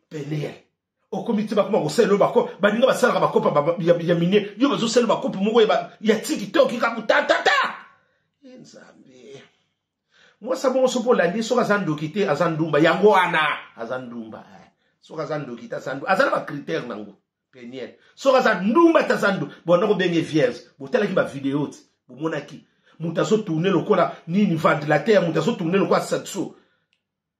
penere okomi te bakoma kosala yo bako baninga basalaka bakopa ya minie yo bazosala yo bakopi moko ya tiki te okika kotatata e nzambe mwasa bongo soki olandi soki aza ndoki te aza ndumba yango wana aza ndumba eh. soki aza ndoki te aza ndumba aza na bacritère nango peniel soki aza ndumba te aza ndumba bonda kobenge vierge botalaki bavideo ti bomonaki moto azotourne lokola nini ventilateur moto azotourne lokola satso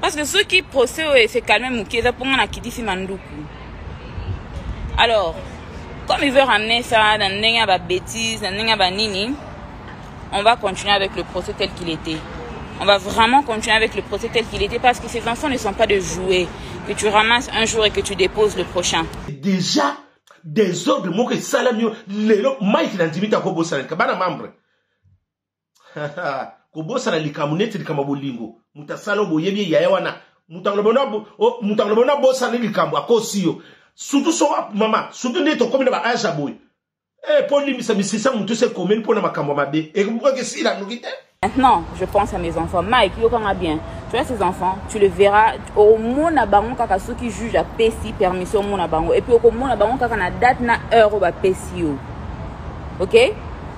parce que soki procès oyo ese calme moke eza mpo nga na kitisi manduku alors comme il veut ramener ça na ndenge ya babétise na ndenge ya banini on va continuer avec le procès tel qu'il était on va vraiment continuer avec le procès tel qu'il était parce que ces enfants ne sont pas de jouets que tu ramasses un jour et que tu déposes le prochain déjà desordre moko esalami yo lelo mike na ndimi te akobosanaka bana membre kobosana likambo neti likambo ya bolingo moto asala oyo boyebi ye yaya wana moto akoloba na bosani likambo akosi yo surtout so mama surtout nde tokomi na baage ya boye e mpo olimbisa misisa motu se ekomeli mpo na makambo ya mabe ekesila noki te Maintenant, je pense à mes enfants. Mike, Yokanga bien. Tu as ces enfants, tu le verras. Au moins, na bango kaka ceux qui jugent à Pessi, permission mon bango. Et puis au moins, na bango kaka na date na heure au Pessi. Ok?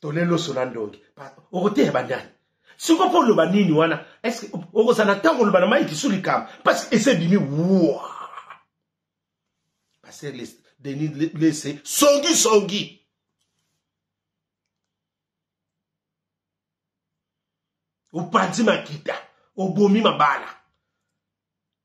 tole loso na ndongi okoteya bandani siko mpo oloba nini wana eske okozala na ntango oloba na mai kisu likambo parce ese ebimi wa paster denis lese songi songi opanzi makita obomi mabala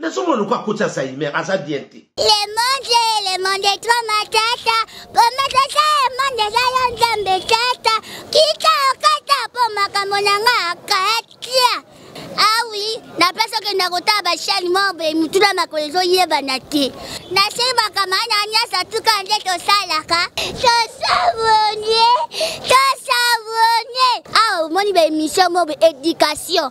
nazomona lokola akoti alzheimer aza bien te le monde le monde tro matata po matata ya monde eza yo nzambe tata kita okata po makambo na nga akatia awi ah na place okenda kotala bashani moko boye mituna makolo ezoyebana te nasei makambo ana nyonso tuka nde tosalaka tosabone tosabone awa ah, omoni baemission moko boye éducation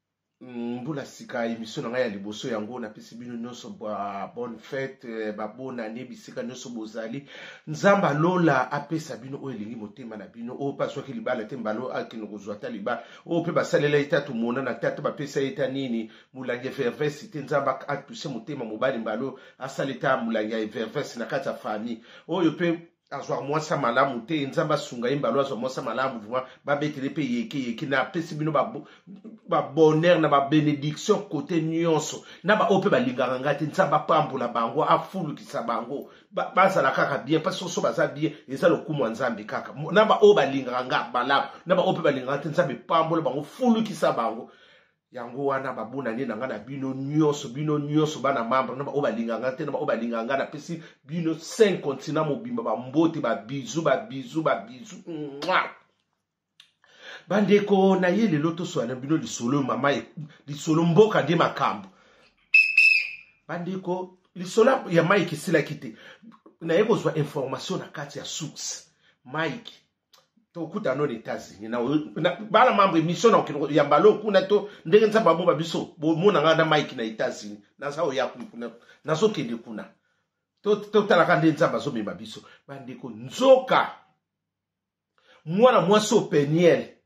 mbula sika emission na ngai ya liboso yango napesi bino nyonso ba bonne fete eh, babonane bisika nyonso bozali nzambe alola apesa bino oyo elingi motema na bino oyo mpe azwaki libala te mbalo akende kozwa ata libala oyo mpe basalela ye te atomonana te ata bapesa ye ta nini molangi ya vervesi te nzambe atuse motema mobali mbalo asala eta molangi ya vervesi na kati ya famille oyo mpe azwa mwasi malamu te nzambe asunga ye mbalo azwa mwasi malamu vraimen babetele mpe yeke yeke napesi bino babonheur na babenediction kote nyonso na baoyo mpe balingaka ngai te nzambe apambola bango afulukisa bango bazala kaka bien mpe soso baza bien eza lokumu ya nzambe kaka na baoyo balingaka ngai malamu na baoyo mpe balingaka te nzambe pambola bango fulukisa bango yango wana babunani na ngai na bino nyonso bino nyonso bana membre na baoyo balinga ngai te na baoyo balinga ngai napesi bino cinq continent mobimba bambote babizu babizu babizu bandeko na ye lelo toswana bino lisolo mama e, lisolo mboka nde makambo bandeko lisolo ya mike esilaki te naye kozwa information na kati ya source mike tokuta no na états-unis bana mambre émission na okende ya mbala okuna to ndenge nzambe aboba biso bomona ngai na mike na états-unis naza oya kuna nazokende kuna totalaka nde nzambe azomema biso bandeko nzoka mwana mwasi openiele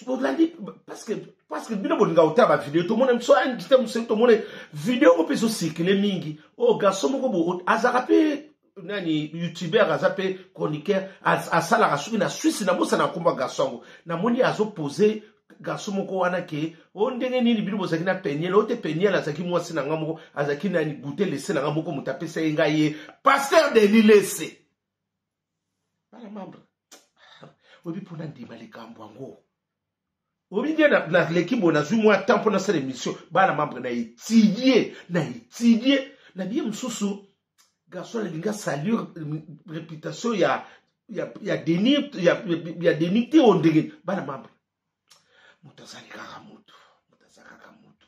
bolandi parceke parceke bino bolinga kotala bavideo tomona biso invité moselu tomona video yango mpe ezocirkule mingi oyo oh, garçon moko bo azalaka mpe nani youtubeur aza mpe chroniqueur asalaka soki na swisse nabosana akomba garçon yango namoni azopose garçon moko wana ke o oh, ndenge nini bino bozalaki na peniel oyo te peniel azalaki mwasi na ngai moko azalaki nani goute lese na ngai moko moto apesa ye ngai ye paster deli lese bana membre oyebi mpo na ndima likambo yango oyebi nde naleki boye nazwi mwa temps mpo nasala émission bana membre na étudie na étudie na biye mosusu garçon alingi asalir réputation ya ya deni ya deni te o ndenge bana membre moto azali kaka moto moto aza kaka moto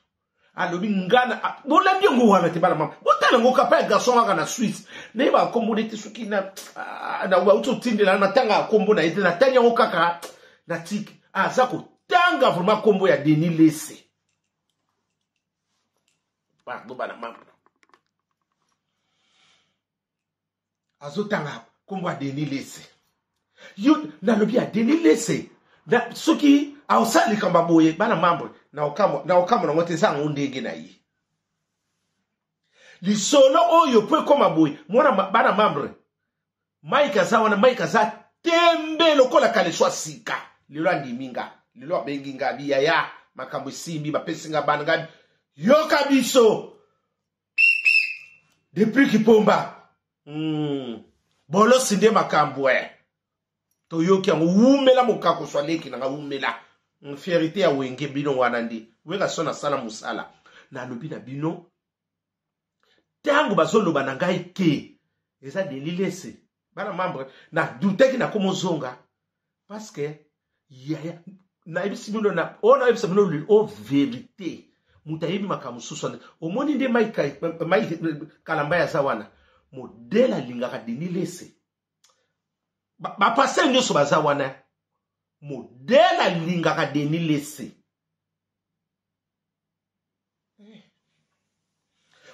alobi ngana bolandi yango wana te bana mama botala yango kapa ya garçon kaka na suisse naye bakombo nde te soki nauti otindela natanga ya kombo na ye te natangi yango kaka na tiki aza kotanga vraimen kombo ya denis lese pardon bana mama azotanga nkombo ya denis lese yo nalobi ya denis lese na, soki aosala likambo ya boye bana mambre na okambo na okambo nango te eza yango ndenge na ye lisolo oyo mpo ekoma boye mwana bana mambre mike aza wana mike aza tembe lokola kaleswa sika lelo andimi nga lelo abengi nga biyaya makambo esimbi bapesi nga bana nga yoka biso depuis kipomba mm. bolosi nde makambo e toyoki yango wumela mokakoswa leki nanga wumela mm, fierité ya wenge bino wana nde werason asala mosala nalobi na bino ntango bazoloba na ngai te eza delilese bana membre na douteki na komo zonga parce que yaya nayebisi bino na oyo nayebisa bino o verité moto ayebi makambo mosusu wana omoni nde mai kalamba ya aza wana modele alingaka deni lese bapastere nyonso baza wana modele alingaka deni lese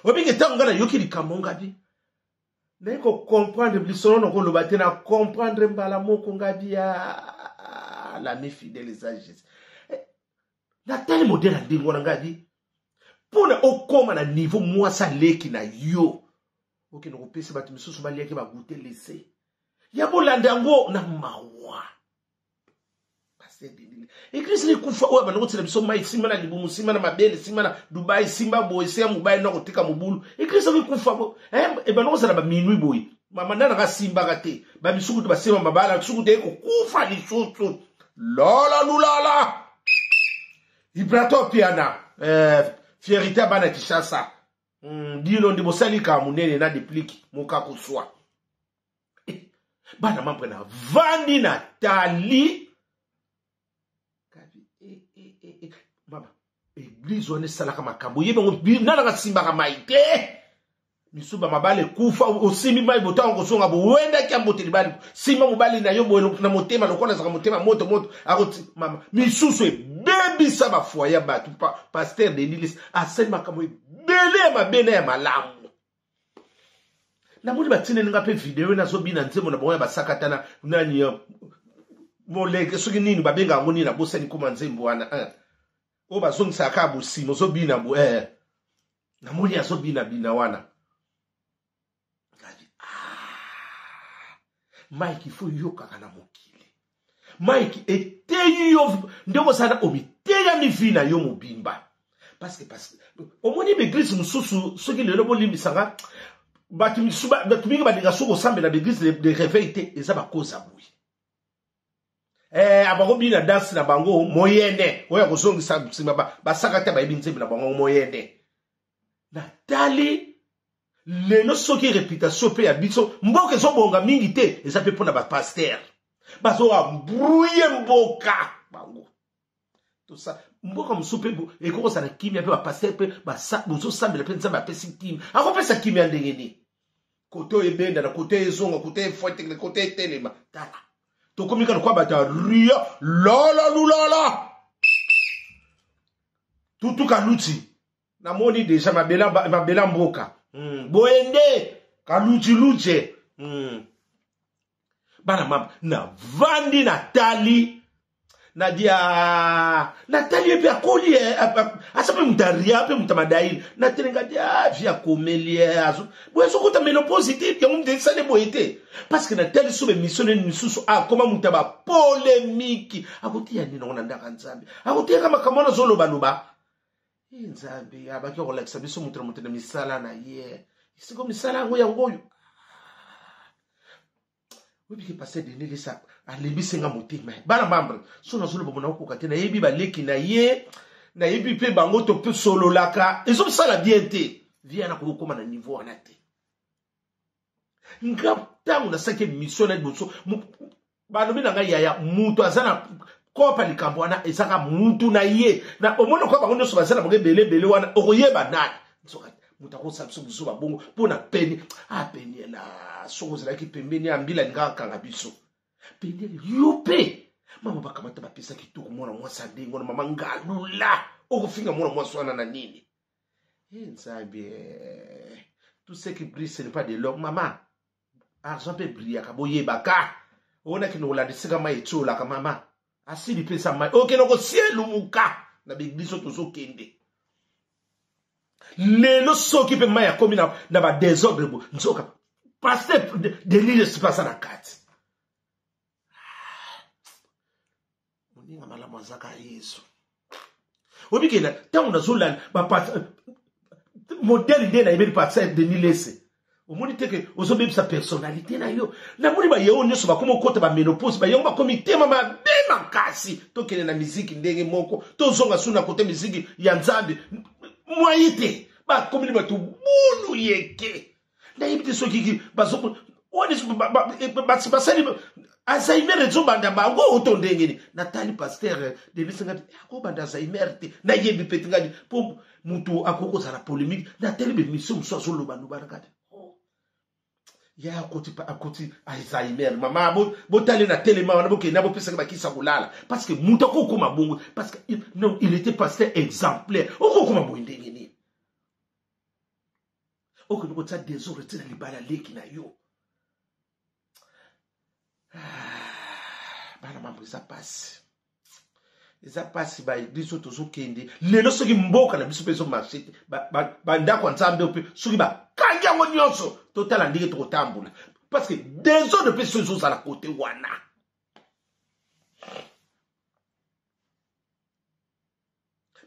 obingi ntango ngai nayoki likambo ngabi naye kocomprendre lisolo na koloba te na comprendre mbala moko ngabi ya ah, lami fidèle esages eh, natali modele ya ndenge wana ngabi mpo na okóma na niveau mwasi aleki na yo okende kopesa bato misusu baliaki bagute lese ya bolanda yango na mawa eglise likufa oyo abanda kotsela biso mai nsima na libumu nsima na mabele nsima na dubai nsima boye se ya mobali na kotika mobulu eglise yango ekufa eh, ebanda kozala baminui boye mama nana kasimbaka te bamisuku te basema mabala misuku te ekokufa lisusu lola lulala ibrato piana eh, fierité ya bana kishasa mm, dino nde bosali likambo monene na depliki mokakoswa bana mambre na vandi na tali eh, eh, eh, mama eglize wana esalaka makambo oyebi yango binalaka simbaka mai te misuba mabale kufa osimbi mai botango kozonga bowendaki ya mbote libali simba mobali na yo boye na motema lokola azaka motema moto moto akoti mama misusu ebebisa bafoye ya bato paster denilis asali makambo ebele ya mabe na ya malamu namoni batindeli nga mpe video ena azobina nzembo na bango ya basakatana nani euh, moleke soki nini babenga yango nini nabosani koma nzembo wana eh. oyo bazongisaka kaka bosima ozobina bo eh. namoni azobina bina wana ah. mike ifo yokaka na mokili mike eteyi yo ndenge osala omiteyami vi na yo mobimba paske paske omoni baeglise mosusu soki lelo bolimbisanga bato misusu bato mingi balinga soki kosambela baeglise de réveil te eza bakoza boye eh, abakobina danse na bango moyene oyo akozongisa nsima basaka te bayebi nzembe na bango moyene natali lelo soki reputation mpe ya biso mboka ezobonga mingi te eza mpe mpo na bapaster bazoambrouye mboka bango tosa mboka mosusu mpe ekoki kozala kimia mpe bapaster mpe bozosambela mpe nzambe apesi kimia akopesa kimia ndenge nini kote oyo ebendana kote oyo ezonga kote efwetele kote etelema tala tokomi ka lokola bato ya ria lala lulala tutuka luti namoni deja mabela, mabela mboka mm. boyende kalujiluje mm. bana mama navandi natali nadia ah, natali ye mpe akoli ye eh, eh, eh, aza mpe moto aria mpe moto amadaili natelenga ti ah, vi akomeli ye boye azokota menopose te yango moto esali boye te parce que natali so bemission nini misusu akoma ah, moto ya bapolemiki akotiya nini yango na ndaka nzambe akotiyaka makambo wana azolobaloba Hii nzambe abaki ya kolakisa biso moto na moto na misala na ye siko misala yango yango oyo oyebiki paster denis lesa alembisi nga motema bana mambre so nazoloba mona okoka te nayebi baleki na ye nayebi mpe bango tosololaka ezosala bien te vie yana kokokoma na niveau wana te nga ntango nasalaki emission na liboso balobi na ngai yaya moto aza na kopa likambo wana ezaka mutu na ye na omoni okoya bango nyonso baza na bango ebele ebele wana okoyeba nani moto akosala biso buzoba bongo mpo na peni apeniela ah, soki ozalaki pembeni ya mbila alingaka kanga biso peniel yo mpe mama bakamata bapesa kitoko mwana mwasi andenge wana mama ngalula okofinga mwana mwasi wana na nini Hey, nzambe eh, tout ce qui brille ce n'est pas de l'homme mama argent mpe brillaka boyebaka ona kende kolandisika mai etiolaka mama asili mpesa mai okende oh, kosielumuka na beglise oyo tozokende lelo soki mpe mai akomi na, na badesordre bo nzoka paster delire sipasa na kati moninga malamu azaka yesu obikela ntango nazolala modele nde nayebeli pasteur denis lese omoni te ke ozobebisa personnalité na yo namoni bayewo nyonso bakomi okota bamenopose bayewo bakomi tema mabe makasi tokende na miziki ndenge moko tozonga suna kote miziki ya nzambe mwaye te bakomi bato bulu yeke nayebi te soki basali alzheimer ezobanda bango oto ndenge ni natali paster eh, debisa ngati eh, akobanda alzheimer te nayebi peti ngati mpo moto akoki kozala polémique natali bemission mosusu azolobaloba na kati oh. ya akoti akoti alzheimer mama botali na telema wana bokende na bopesaki bakisa kolala parce que moto akokoma bongo parce que non il était pasteur exemplaire okokoma boye ndenge nini okende kotia desordre ti na libala leki na yo ah, bana mambo eza mpasi eza mpasi baeglise oyo tozokende lelo soki mboka na biso mpe ezomarche te bandako ya nzambe mpe soki bakangi yango nyonso totala ndenge tokotambola parce que desordre mpe so ezozala kote wana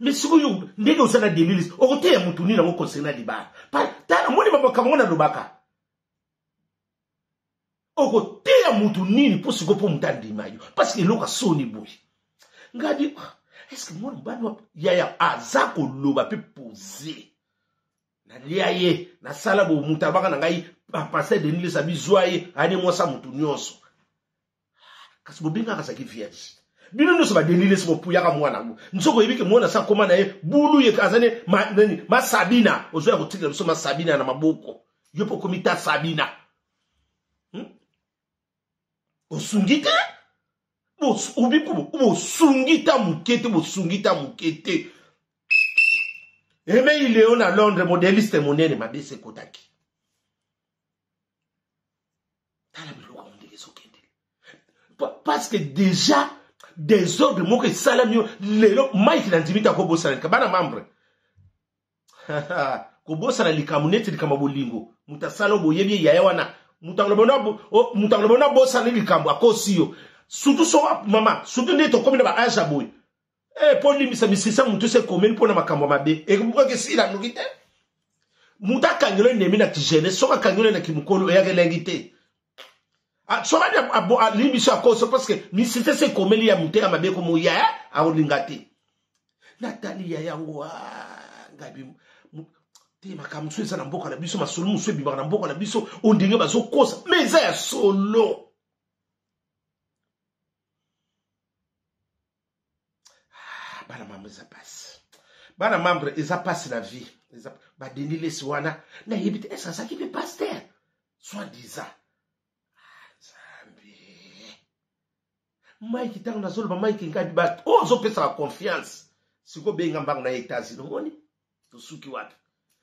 mais sikoyo ndenge oza na demilis okoteya motu nini yango concernant libala tala moni bamakambo ngo nalobaka okoteya motu nini mpo sikoyo mpo motu andima yo parce que eloko asoni boye ngadi ah, eske mwana mobali wapi yaya aza koloba mpe pose nalia ye nasala bomutu alobaka na ngai bapasteur ah, denis lesabi zwa ye ane mwasa motu nyonso kasi bobengaka azalaki vierge bino nyonso badelile soko puyaka mwana yango nsoko oyebi ke mwana sa akoma na ye bulu ye aza ne nani masabina ozoya kotikela biso masabina na maboko yo mpe okomi ta sabina hmm? osungi te bosungi ta moke te bosungi ta moke te emei leo na londres modeliste monene mabe se ekotaki tala biloko yango ndenge ezokende parce que déjà desordre moko esalami yo lelo mike na ndimi te akobosana lika bana membre kobosana likambo neti likambo ya bolingo moto asala oyo boyebi ye yaya wana moto akoloba na bosani likambo akosi yo surtout so mama surtout nde tokomi na baage ya boye Eh, mpo olimbisa misisa motu se ekomeli mpo na makambo mabe ekobukaki esila noki te motu akangelo enemi na kijene soki akangelo na kimokolo eyaka elengi te ah, soki alimbisi akoso parceke misisa se ekomeli ya motu ya mabe ekomoya eh, akolinga te natali ya yango ah, ngabi te makambo mosusu eza na mboka na biso masolo mosusu ebimaka na mboka na biso oyo ndenge bazokosa ma eza ya solo ah, bana mambo eza pasi bana membre eza pasi na vie badindi lesi wana nayebi te eske azalaki mpe paster soit disant mike ntango nazoloba mike ngabi bato oyo ozopesaka confiance sikoyo benga mbango na ye etats-unis omoni tosuki wapi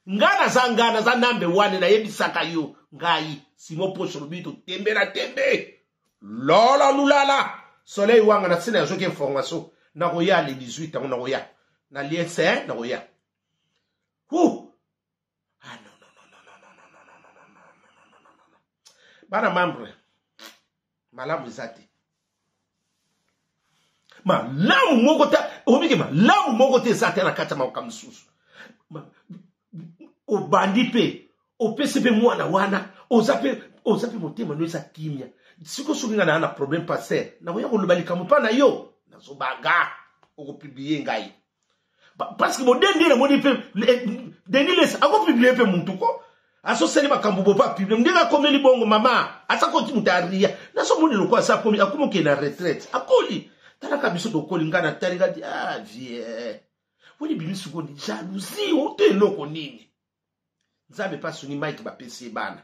nga naza nga naza nambe wane nayebisaka yo ngai simo poche lobi totembe na tembe lola lulala soleil wanga na nsina yazoki information nakoya le 18 yango nakoya na lie se nakoya hu bana membre malamu eza te malamu moko te omike malamu moko te eza te na kati ya makoka mosusu obandi mpe opesi mpe mwana wana oza mpe oza mpe motema no eza kimia siko soki ngai naa na problème paster nakoya koloba likambo mpa na yo nazobanga okopiblie ngai parce que bodende namoni mpe denis les akopiblie mpe mutu ko asosali makambo bopa publie ndenge akomeli bongo mama aza koti moto aria nazomoni lokola asa akomi akomi okende na retraite akoli talaka biso tokoli ngai natali kati a ah, vie woni bimi sikoyo jalousie oto eloko nini nzambe mpe asungi mike bapesi ye bana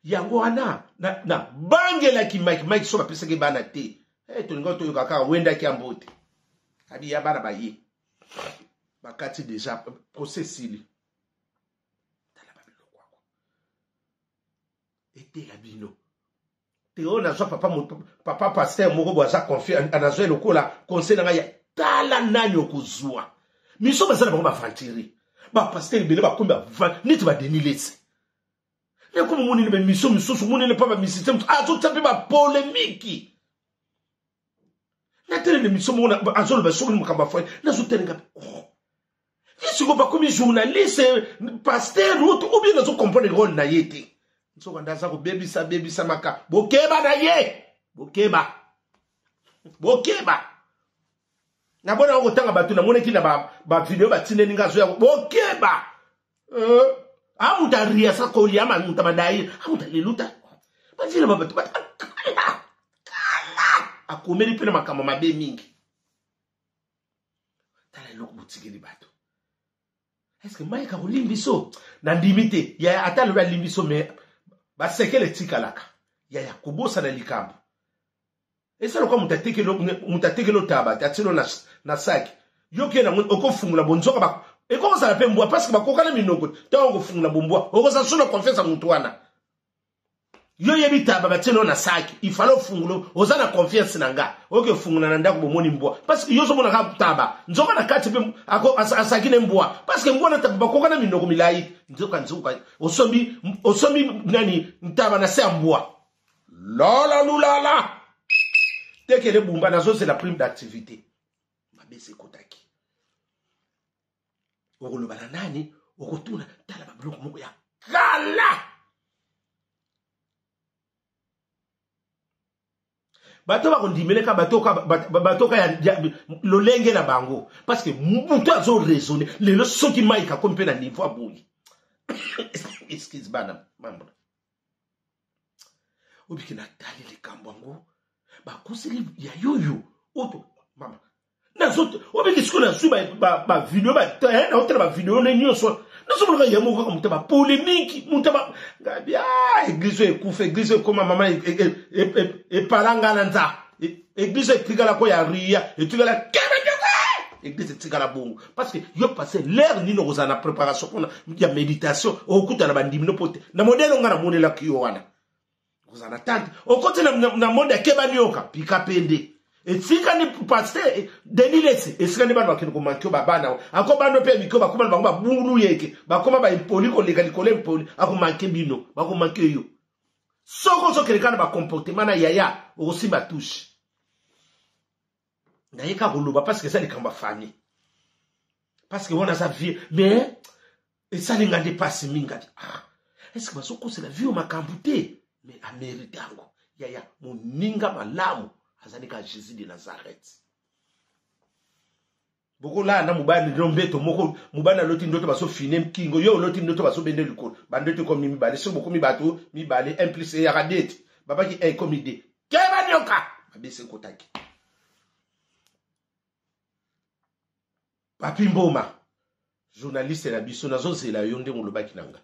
yango wana nabangelaki na mike mike so bapesaki ye bana te hey, eh, tolingaki toyoka kaka wendaki ya mbote abi ya bana baye bakati deja procès esili tala babiloko yango etela bino teo nazwa papa, papa pasteur moko bo aza confiant nazwa lokola conseil na ngai ya tala nani okozwa miso baza na bango baventurier bapasteur ebele bakomi neti badeni lese ekomi monene bamiso misusu monene mpa bamisite mosusu azotya mpe bapolemiki natelele miso moko azoloba soki makambo ya foye nazotelenga oh. ye siko bakomi journaliste paster route ou bien nazo comprendre role na ye te nsoka nde aza kobebisa bebisa maka bokeba na ye bokeba bokeba nabona yango kotanga bato namonaki na bavideo batindeli nga azoya bokeba euh, amuta ria sa koli ama muta madai amuta leluta bajira babatu bakala akomeli mpe na makambo mabe mingi tala eloko botikeli bato eske mike akolimbi biso nandimi te yaya ata alobi alimbi biso me basekele etikalaka yaya kobosana likambo eza lokola moto atekeli moto atekeli otaba te atilo na, na saki yoke nango okofungola bonzoka ba ekoki kozala mpe mbwa parceke bakokana minoko ntango okofungola bombwa okozala so na confiance ya moto wana yo yebi taba batielo na saki ifale ofungulo oza na confiance na nga oke fungola na ndako bomoni mbwa parceke yo ozomona kaka taba nzoka na kati mpe asaki ne mbwa parceke mbwa na taba bakoka na minoko milai nzoka nzoka osombi osombi nani ntaba na se ya mbwa lola lulala tekele bumba nazozela prime d'activité mabe esekotaki okoloba na nani okotuna tala babiloko moko ya kala bato bakondimeleka batoka ya lolenge na bango parce que moto azo raisonne lelo soki mike akomi mpe na niveau aboyi excuse bana mambo obiki natali likambo yango bakoseli ya yoyo oto mama nazote obiki sikoyo nazwi bavideo naotala bavideo eh, ne nyonso nazomonaka ye moko kaka moto ya bapolemiki moto ya ba ah, eglize oyo ekufa eglize oyo ekoma mama epala e, e, e, ngai na nzaa eglise etikala ko ya ria etikala kebedoka eglise etikala bongo parce que yo passe l'heure nini okozala na préparation mpona ya méditation okokutana bandimi no mpo te na modele onga namonelaki yo wana okozala na tante okoti na monde akebani yoka pika pende etikani paster denis lesi esikani bana bakende komanke babana ako bana mpe mikio bakoma na bango babulu yeke bakoma baimpoli koleka likolo impoli akomanke bino bakomanke yo soko ozokende kaka na bacomportement na yaya okosimba touche naye kaka koloba parceke eza likambo ya fami parceke wana aza vie mais esali nga nde mpasi mingadi ah, eske bazokosela vie oyo makambo te mais amerite yango yaya moninga malamu azali kaka jésus de nazareth bokolala na mobali no mbeto moko mobali aloti ndoto baso fine kingo yo oloti ndoto baso bende likolo bandoto ekomi mibale soki bokomi bato mibale 1 plus eyaka deti babaki e ekomi de keba nioka babese ekotaki papi mboma journaliste na biso nazozela yo ndenge olobaki na nga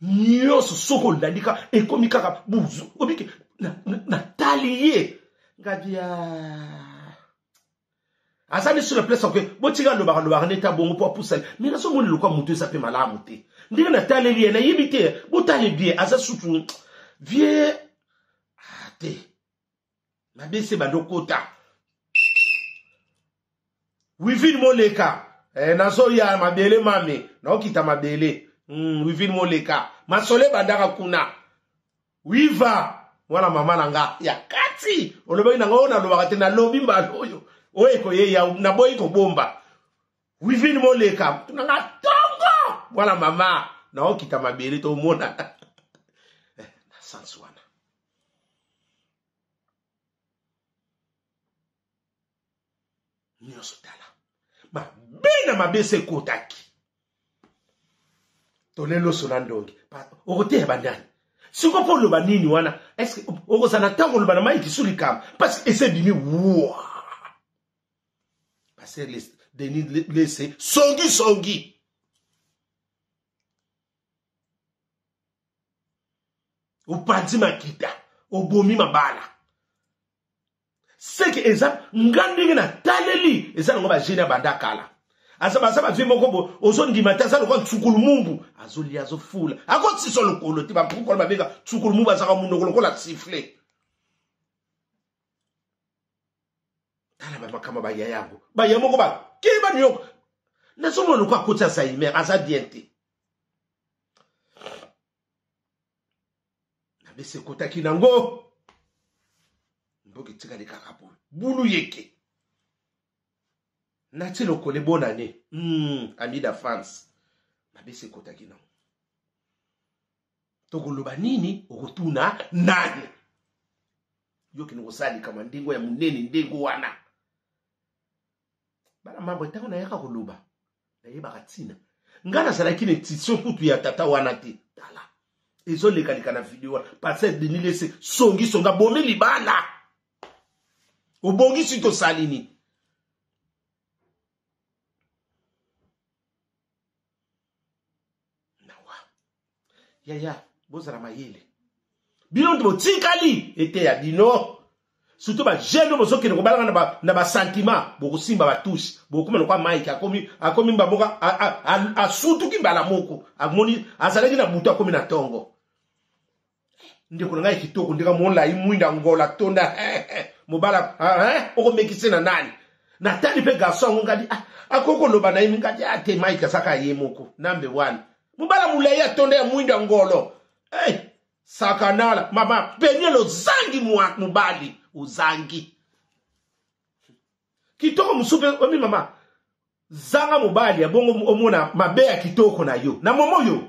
nyonso soki olandi kaka ekomi kaka buzu obiki natali ye ngadi ya aza nde sur place oke botika alobaka lobaka nde ta bongo mpo apusani mai nazomoni lokwa moto eza mpe malamu te ndenge nataleli ye nayebi te botale bien aza sutu vie ah, te mabese bandokota wivine moleka eh, nazoya mabele mame naokita mabele mm, wivine moleka masole bandaka kuna wiva mwana mama na nga ya kati olobaki na nga oyo nalobaka te nalobi mbala oyo oyo ekoyeya naboyi kobomba wivine moleka na nga tongo mwana mama naokita mabele tomonana eh, na sansi wana nyonso tala mabe na mabe se ekotaki tole loso na ndonge okoteya banani siko mpo oloba nini wana eske okozala na ntango oloba na mai kisu likambo parce que ese bimi wa paster denis lese songisongi songi. opanzi makita obomi mabala seke eza nga ndenge nataleli eza nango bagene ya banda kala aza baza bavie moko bo ozondima te aza lokola nsukulumumbu azolia azofula akotisa lokolo te bankukolo babenga nsukulumumbu azaka monoko lokola sifle tala bamakambo baya yango baya moko bakei ba new york nazomona lokola akoti alzheimer aza bien te nabese ekotaki nango mboka etikali kaka boye bulu yeke nati lokole bonne année mm, ami da france nabese ekotaki nango tokoloba nini okotuna nani yo kende kosala likama ndenge ya monene ndenge wana bana mambo ntango nayaka koloba nayebaka ntina ngai nazalaki na institution kutu ya tata wana te tala ezolekaleka na video wana pasteur denis lese songisongi abomi libala obongisi tosali nini nawa yaya bozala mayele bino nde botikali eteya bino surtout bajeune oyo bozokende kobalaka na basentiment bokosimba batouche bokokoma lokwa mike akomi akomi mbamoka asutuki mbala moko amoni azalaki na butu akomi na ntongo ndeko na ngai kitoko ndeka molai mwinda ngola tonda mobala okomekise na nani natali mpe garso yango ngadi ah, akoki koloba na ye ngadi ate ah, mike asaka ye moko nambe wana mobala molai atonda ya mwinda ngolo hey, sakanala mama peniel ozangi mobali ozangi kitoko mosusu mpe omi mama zanga mobali ya bongo omona mabe ya kitoko na yo na momo yo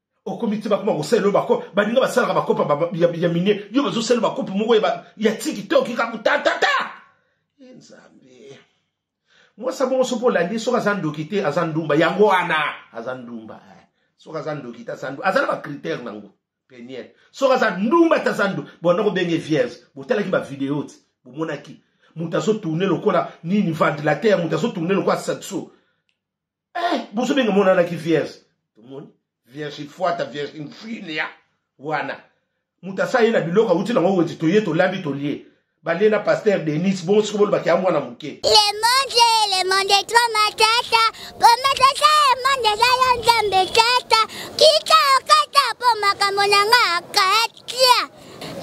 okomi te bakoma kosalela oyo bako baninga basalaka bakopa ba, ya, ya minie yo bazosalela bakopa moko ya, ya tiki te okika kotatata eh, nzambe mwasi abongo soki olandi soki aza ndoki te aza ndumba yango wana aza ndumba eh. soki aza ndoki te aza ndumba aza na bacritère nango peniel soki aza ndumba te aza ndumba bonda kobenge vierge botalaki bavideo ti bomonaki moto azotourne lokola nini ventilateur moto azotourne lokola satso eh bozo benga mona na ki vierge tomoni vierge fuata vierge mfinia wana moto asa ye na biloko awuti nango wenzi toye tolambi tolie balie na pasteur denis bongo soki bolobaki ya mwana moke le monde le monde tro matata po matata e monde eza yo nzambe tata kika okata po makambo na nga akata Kia!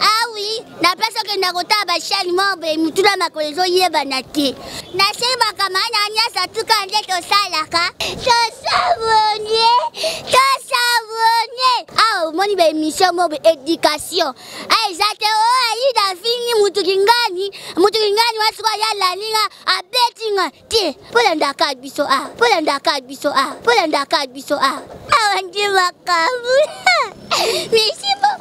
awi ah na place okenda kotala bashani mobe mituna makolo ezoyebana te nasebaka maana nyasa tuka nde tosalaka tosabonie tosabonie awa ah, omoni baemission mobe education a ah, eza te o oh, aida afingi motu kingani motu kingani wa sikoyo ya lalinga abeti nga te mpo landaka biso a mpo landaka biso a mpo landaka biso a awa nde makambo merci beaucoup